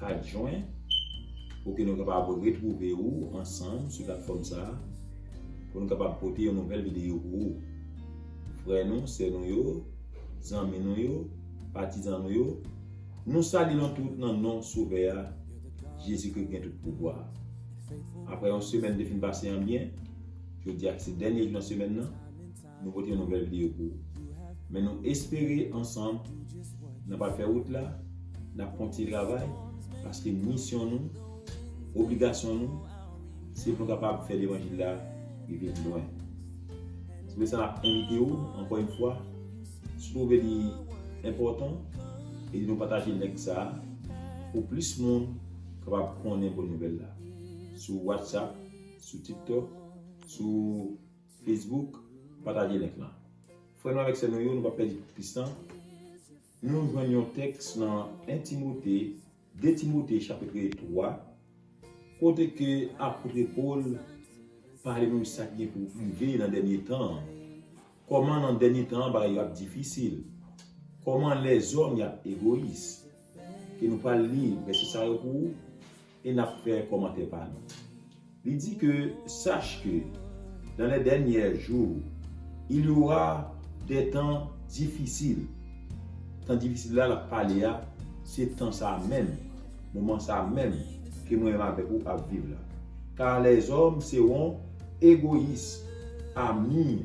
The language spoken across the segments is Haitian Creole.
4 Jwen pou ke nou kapab retwouve ou ansanm sou platfòm sa a pou nou kapab pote yon nouvèl videyo pou ou. Frè nou, sè nou yo, zanmi nou yo, patizan nou yo, nou salye nou tout nan non Sovè a, Jezikri ki gen tout pouvwa. Aprè yon semèn te fin pase an byen, jodi a ki se dènye jou nan semèn nan, Nou pote yon nouvèl video pou ou. Men nou espere ansanm nan pral fè wout la, nap kontinye travay paske misyon nou, obligasyon nou se pou nou kapab fè levanjil la rive pi lwen. Se pou sa nap envite ou ankò yon fwa, si w twouve li enpòtan, ede nou pataje link sa a pou plis moun kapab konnen bon nouvèl la sou WhatsApp, sou TikTok, sou. Facebook pataje link lan. Frè nou avèk sè nou yo nou pap pèdi plis tan nou jwenn yon tèks nan 1 Timote 2 Timote chapitre 3 kote ke apotre Paul pale nou sak gen pou rive nan dènye tan an kòman nan dènye tan an bagay yo ap difisil kòman lèzòm yap egoyis. ke nou pral li vèsè sa yo pou ou e n ap fè kòmantè pa nou. Li di ke, Sache que, dans les derniers jours, il y aura des temps difficiles. Tan difisil la l ap pale a, se tan sa a menm, moman sa a menm ke mwen menm avèk ou ap viv la. Car les hommes seront égoïstes, amis.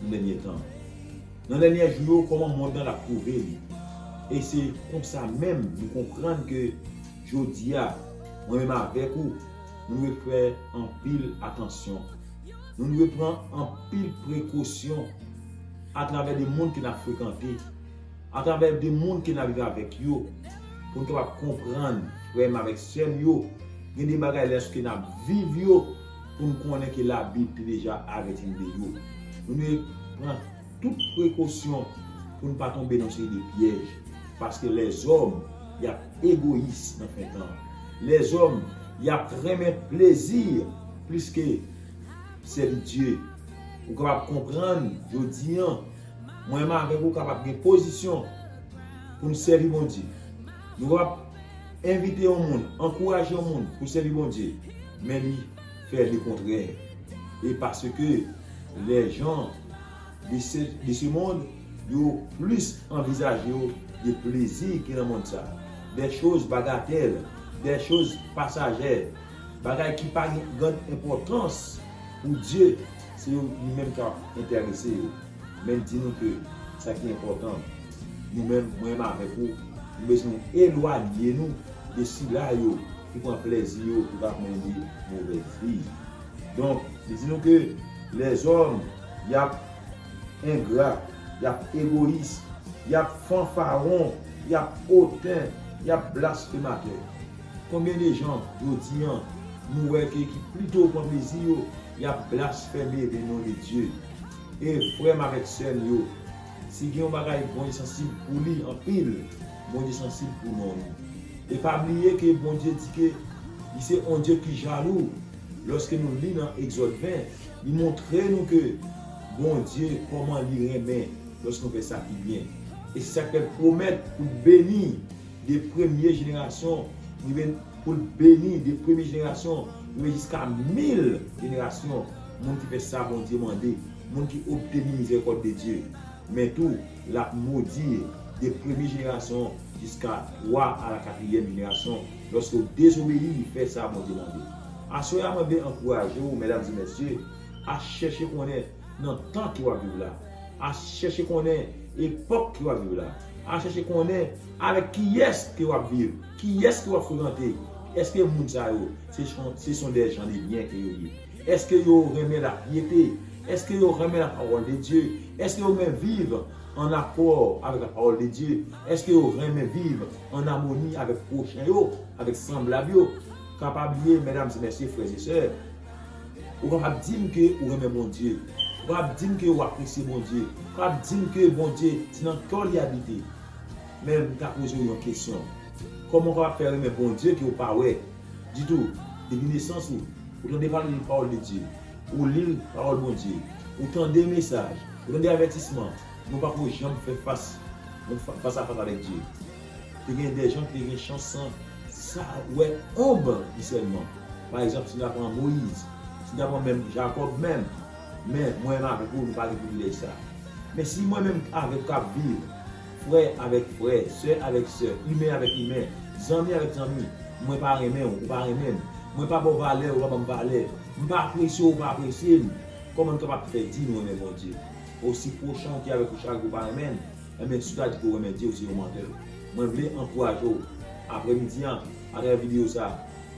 Nan dènye tan. Nan dènyè jou yo kòman mond lan ap twouve li. E se konsa menm nou konprann ke jodi a mwen menm avèk ou nou dwe fè anpil atansyon. Nou dwe pran anpil prekosyon atravè de moun ke n ap frekante, atravè de moun ke n ap viv avèk yo pou n kapab konprann frè m avèk sè m yo gen de bagay lèske n ap viv yo pou n konnen ke Labib te deja avèti n de yo. Nou dwe pran tout prekosyon pou n pa tonbe nan yon seri de pyèj, paske lèzòm y ap egoyis nan fen tan an. Lèzòm y ap renmen plezi plis ke sèvi Dye. Ou kapab konprann jodi an, mwen menm avèk ou kapab gen pozisyon pou n sèvi Bondye. Nou kapab Envite yon moun, ankouraje yon moun pou sèvi Bondye, men li fè lekontrè. E paske lè jan de se de se mond yo plis anvizaje yo de plezi ki nan mond sa, dè choz bagatèl, dè choz pasajè, bagay ki pa gen grann enpòtans pou Dye, se yo li menm k'ap entèrese yo. Men di nou ke sa ki enpòtan. Nou menm, mwen menm avèk ou, nou bezwen elwanye nou de sila yo ki pran plèzi yo pou kap mennen movèz vi. Donk, li di nou ke lèzòm y ap engra, y ap egoyis, y ap fanfaron, y ap oten, y ap blasfematè. Konbyen de jan jodi an nou wè ke ki plito pran plezi yo y ap blasfeme de non de Dye? E frè m avèk sè m yo, Si gen yon bagay Bondye sansib pou li anpil, Bondye sansib pou non li. E pa bliye ke Bondye di ke li se yon Dye ki jalou. Lòske nou li nan Egzòd 20, li montre nou ke Bondye kòman li renmen lòske nou fè sa ki byen. E se sa k fè l pwomèt pou l beni de premye jenerasyon rive pou l beni de premye jenerasyon rive jiska mil jenerasyon moun ki fè sa Bondye mande. Moun ki obteni mizerikòd de Dye, men tou, l ap modi yo, de premye jenerasyon jiska twa a la katriyèm jenerasyon, lòske w dezobeyi li fè sa Bondye mande. Aswè a mwen vle ankouraje w, mèdam e mèsye, a chèche konnen nan tan ke w ap viv la, a chèche konnen epòk ke w ap viv la, a chèche konnen avèk kiyès ke w ap viv, kiyès ke w ap frekante, èske moun sa yo se son dè jan de byen ke yo ye. Èske yo renmen lapyete? Èske yo renmen lapawòl de Dye? Èske yo renmen viv ann akò avèk lapawòl de Dye? Èske yo renmen viv ann amoni avèk pwochen yo, avèk sanblab yo? Ka pa bliye, mèdam e mèsye, frè e sè, ou kapab di m ke ou renmen Bondye. Ou kapab di m ke ou apresye Bondye. Ou kapab di m ke Bondye se nan kè w li abite. Men m ta poze w yon kesyon, Kòman ou kapab fè renmen Bondye ke ou pa wè? Ditou, depi nesans ou, ou tande pale de pawòl de Dye, ou li pawòl Bondye, ou tande mesaj, ou tande avètisman, men ou pako janm fè fas yon fas a fas avèk Dye. Te gen dèjan ki te gen chans san sa wè onb li sèlman. Pa egzanp, si na pran Moyiz, si na pran menm Jakòb menm, men mwen menm avèk ou nou pa gen privilèj sa. Men si mwen menm avèk ou kap viv, frè avèk frè, sè avèk sè, imen avèk imen, zanmi avèk zanmi, mwen pa renmen w, ou pa renmen m, mwen pa ba w valè, ou pa ban m valè, m pa apresye w, ou pa apresye m, kòman n kapab fè di nou renmen Bondye? O si pwochen w ki avèk ou chak jou pa renmen l, enben si w ta di ke w renmen Dye, w se yon mantè. Mwen vle ankouraje w, aprè midi an, atravè videyo sa,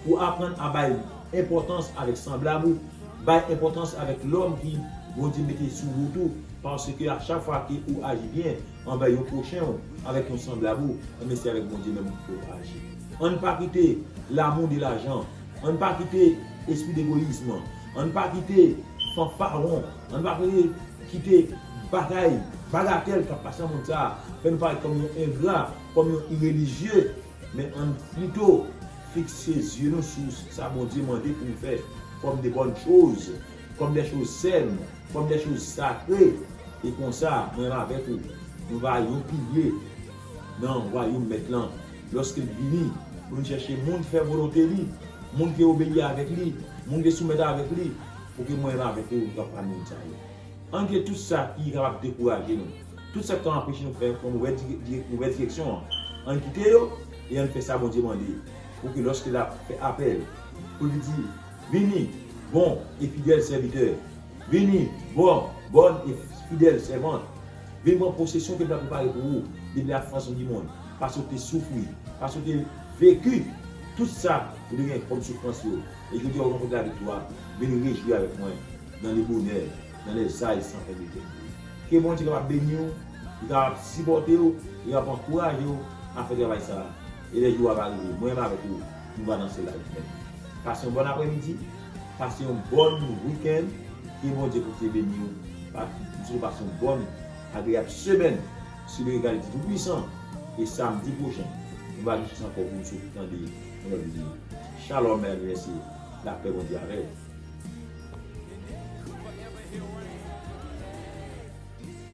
pou w aprann a bay enpòtans avèk sanblab ou, bay enpòtans avèk lòm ki Bondye mete sou wout ou, Paske a chak fwa ke ou aji byen anvè yon pwochen ou avèk yon sanblab ou, enben se avèk Bondye menm ou fè ou aji. Ann pa kite lamou de lajan, ann pa kite espri degoyism, ann pa kite fanfaron, ann pa kite kite bagay bagatèl k'ap pase nan mond sa a fè nou parèt kòm yon engra, kòm yon irelijye, men ann plito fikse zye nou sou sa Bondye mande pou nou fè kòm de bòn choz Kòm dè choz sèn, kòm dè choz sakre, e konsa, mwen avèk ou, nou va yon pilye nan wayom Mèt lan, lòske l vini, pou vin chèche moun ki fè volonte li, moun ki obeyi avèk li, moun ki soumèt avèk li, pouki mwen avèk ou nou ka pami moun sa yo. Ann kite tout sa ki kapab dekouraje nou, tout sa ki ka anpeche nou fè yon movè direksyon an, ann kite yo, e ann fè sa Bondye mande, pouki lòske l ap fè apèl, pou l di. Vini, bon e fidèl sèvitè. Vini, bon, bòn e fidèl sèvant. Vin pran posesyon ke m ta prepare pou ou depi la fondasion di mond, paske ou te soufri, paske ou te veki tout sa ou te gen kòm soufrans yo, e jodi a ou ranpòte laviktwa. Vin rejwi avèk mwen nan le bonè, nan le zay san fen de kè. Ke Bondye kapab beni ou, li kapab sipòte ou, li kapab ankouraje ou a fè travay sa a. E lè jou a va rive, mwen menm avèk ou, Jou va nan solay frèm. Pase yon bòn apremidi, pase yon bòn weekend ke Bondye kontinye beniw pa mswetew pase yon bòn agreyab semèn sou lirical di tou pwisan e samdi pwochen nou va gen chans ankò pou nou sot tande yon lòt video Shalom medam e mesye lapè Bondye avèw.